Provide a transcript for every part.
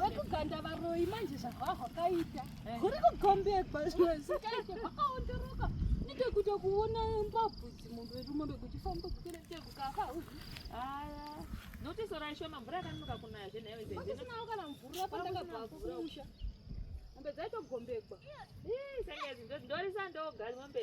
wekuganda varoyi manje zvahwahwakaita eh. kuri kugombekwa zvikaite kwakaonderoka nitekuita kuona mbabvu dzimomberumo bekuchifamba kukeretekukafa aya notisora ishoma mvura yakanonoka kunaya zvenhayoisinawo kana mvura pandakabva kumusha mombe dzaitogombekwa ndorisa ndoga mombe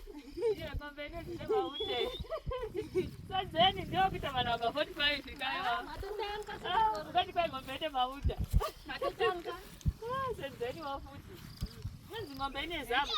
Sadzeni ndio kuita vana waka 45 fikaiwa. Ah, ukati kwa ngombe ende mauta. Atotanga. Ah, sadzeni wafuti. Mwenzi ngombe ine zamu.